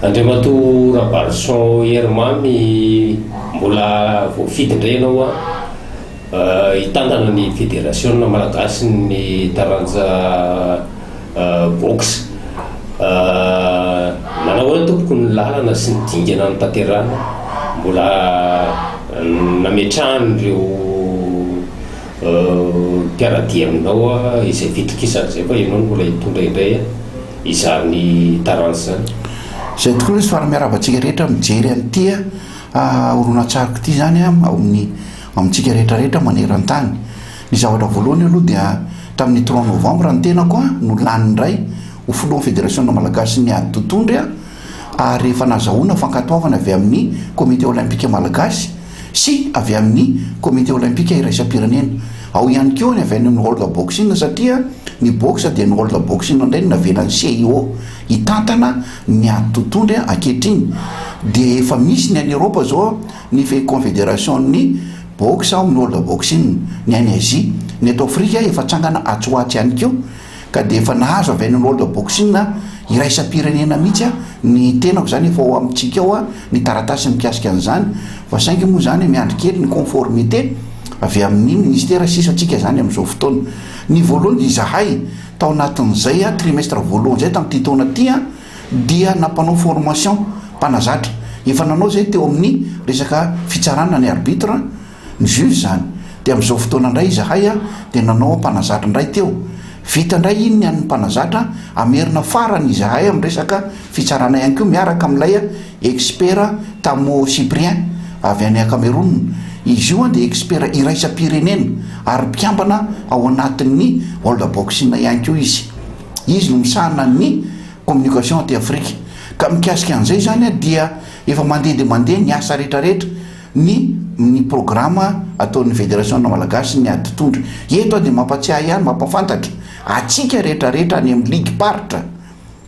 Andriamatoa Rabalison Herimamy mbola voafidy indray ianao hitantana ny federasiona malagasy ny taranja boxe. Nanao ahoana tompoko ny lalana sy ny dingana notanterahina mbola nametrahana ireo Mpiara-dia aminao aho izay fitokisana izay fa ianao no mbola hitondra indray izany taranja izany. Izay tokoa lesy fa miarahaba antsika rehetra mijery an'ity horonantsariko ity izany ao amin'ny amintsika rehetra rehetra maneran-tany. Ny zavatra voalohany aloha dia tamin'ny trois novembre ny tenako no lany indray ho filohan'ny federasiona malagasin'ny ady totohondry aho ary efa nazahoana fankatoavana avy amin'ny comité olympique malagasy. sy avy amin'ny Komite Olympika Iraisam-pirenena. Ao ihany koa ny avy any amin'ny World Boxing satria ny boxe dia ny World Boxing indray no navelan'ny CIO hitantana ny ady totohondry ankehitriny dia efa misy ny any Eoropa izao ny Konfederasion'ny boxe ao amin'ny World Boxing, ny any Azia, ny eto Afrika efa tsangana atsy ho atsy ihany koa. Ka dia efa nahazo avy any amin'ny World Boxing iraisam-pirenena mihitsy ny tenako izany efa ao amintsika ao ny taratasy mikasika an'izany fa saingy moa izany miandry kely ny conformité avy amin'ny ministera sisa tsika izany amin'izao fotoana. Ny voalohany dia izahay tao anatin'izay trimestre voalohany izay tamin'ity taona ity dia nampanao formation mpanazatra. Efa nanao izay teo amin'ny resaka fitsarana ny arbitre Ny vieux izany. Dia amin'izao fotoana indray izahay dia nanao ampanazatra indray teo. Vita indray iny ny an'ny mpanazatra, hamerina farany izahay amin'ny resaka fitsarana ihany koa miaraka amin'ilay expert Tamo Cyprien avy any Cameroun. Izy io dia expert iraisam-pirenena ary mpikambana ao anatin'ny World Boxing ihany koa izy. Izy no misahana ny communication aty Afrika. Ka mikasika an'izay izany dia efa mandeha dia mandeha ny asa rehetra rehetra. ny ny programa ataon'ny Federasiona Malagasy ny ady tondra. Eto aho dia mampatsiahy ihany, mampafantatra antsika rehetra rehetra any amin'ny ligim-paritra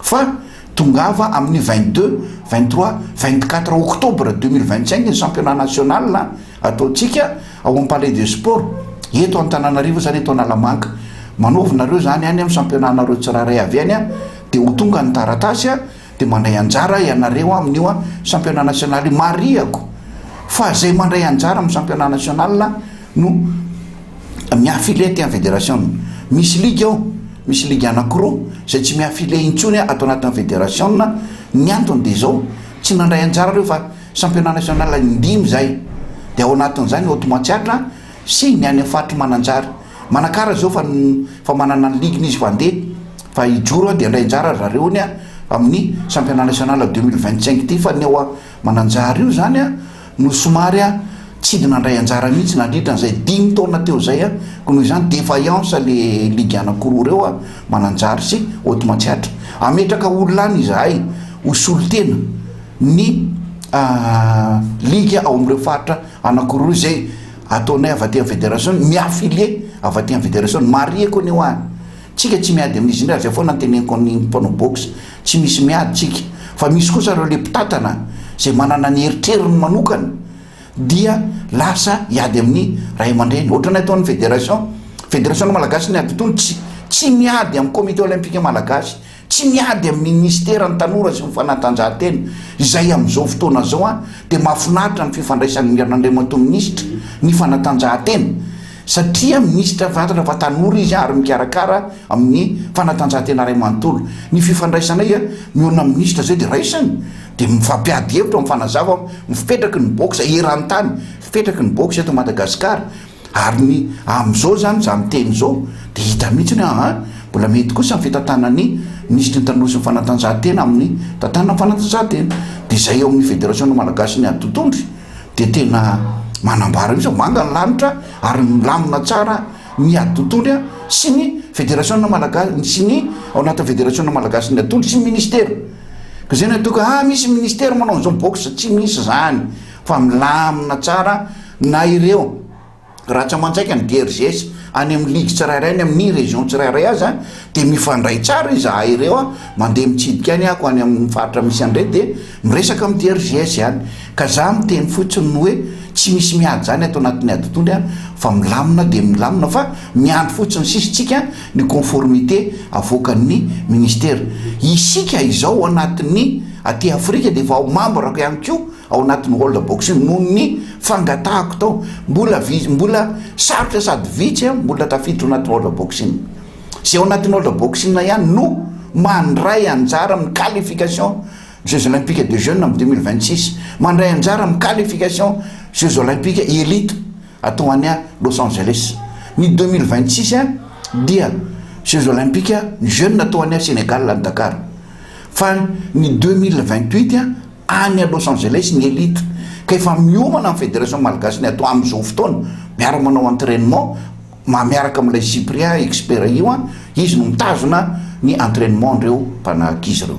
fa tongava amin'ny vingt deux, vingt trois, vingt quatre octobre deux mille vingt cinq ny championnat national ataontsika ao amin'ny Palais des Sports eto Antananarivo izany eto Analamanga. Manaovy nareo izany any amin'ny championnat-nareo tsirairay avy any dia ho tonga ny taratasy. Dia mandray anjara ianareo amin'io Championnat National io. Marihako fa izay mandray anjara amin'ny Championnat National no mi-affilie aty amin'ny Fédération. Misy ligue ao, misy ligue anankiroa izay tsy mi-affilie intsony ato anatin'ny Fédération. Ny antony dia izao, tsy nandray anjara ireo fa Championnat National in-dimy izay. Dia ao anatin'izany ny Hoto Matsiatra sy ny any amin'ny faritry Mananjary. Manakara zao fa fa manana ny ligny izy fa ndeha fa hijoro an dia handray anjara ry zareo anie an amin'ny championnat national deux mille vingt cinq ity fa ny ao Mananjary io zany an no somary an tsidy nandray anjara mihitsy nandritra an'izay dimy taona teo zay an ko noho izany defaillance le ligue anakiroa reo an Mananjary sy Haute Matsiatra ametraka olona any izahay ho solontena ny ligue ao amin'ireo faritra anakiroa izay Ataonay avy aty amin'ny Fédération ny mi-affilier avy aty amin'ny Fédération, ny marihiko anie ho an, tsika tsy miady amin'izy indray, zay foana no teneniko amin'ny mpanao boxe, tsy misy miady tsika, fa misy kosa ireo le mpitantana zay manana ny eritreriny manokana dia lasa hiady amin'ny ray aman-dreny, ohatranay ataon'ny Fédération, Fédération-n'ny Malagasy ny Ady Tony tsy tsy miady amin'ny Comité Olympique Malagasy, Tsy miady amin'ny minisiteran'ny Tanora sy ny fanatanjahantena izay amin'izao fotoana izao aho dia mahafinaritra ny fifandraisan'ny Andriamatoa Minisitra ny fanatanjahantena satria Minisitra Fanatanjahantena fa Tanora izy ary mikarakara amin'ny fanatanjahantena iray manontolo. Ny fifandraisanay mihaona amin'ny Minisitra izay dia raisiny dia mifampiady hevitra, mifanazava, mifipetraky ny box eran-tany, fipetraky ny box eto Madagasikara. Ary ny amin'izao izany izaho miteny izao dia hita mihitsy ny hoe aa mbola mety kosa ny fitantanana ny minisitry ny Tanora sy ny Fanatanjahantena amin'ny tantanana ny fanatanjahantena. Dia izay eo amin'ny Federasiona Malagasy ny aditondry dia tena manambara mihitsy fa manga ny lanitra ary milamina tsara ny aditondry a! sy ny Federasiona Malagasy sy ny ao anatin'ny Federasiona Malagasy ny aditondry sy ny minisitera. Koa izay no atao hoe aa misy minisitera manao an'izao box, tsy misy izany. Fa milamina tsara na ireo ratsamanjaika ny DRGS any amin'ny ligue tsirairay any amin'ny région tsirairay aza dia mifandray tsara izahay ireo a, mandeha mitsidika any ako any amin'ny faritra misy an'ireny dia miresaka amin'ny DRGS any ka za miteny fotsiny ny hoe tsy misy miady izany ato anatin'ny aditoany a fa milamina dia milamina fa miandry fotsiny sisa tsika ny conformité avoakan'ny ministera isika izao anatin'ny aty afrika dia efa ao membre-ko ihany koa ao anatin'ny World Boxing noho ny fangatahako tao, mbola vitsy, mbola sarotra sady vitsy aho mbola tafiditra ao anatin'ny World Boxing. Izay ao anatin'ny World Boxing ihany no mandray anjara amin'ny qualification Jeux Olympiques de Jeunes amin'ny 2026, mandray anjara amin'ny qualification Jeux Olympiques Elite atao any Los Angeles. Ny 2026 dia Jeux Olympiques Jeunes atao any Sénégal, any Dakar. Fa ny 2028 Any Los Angeles ny elite ka efa miomana amin'ny Federation Malgache ny atao amin'izao fotoana, miara manao entrainement ma miaraka amin'ilay Cyprien expert io an, izy no mitazona ny entrainement an'ireo mpanahakizy ireo.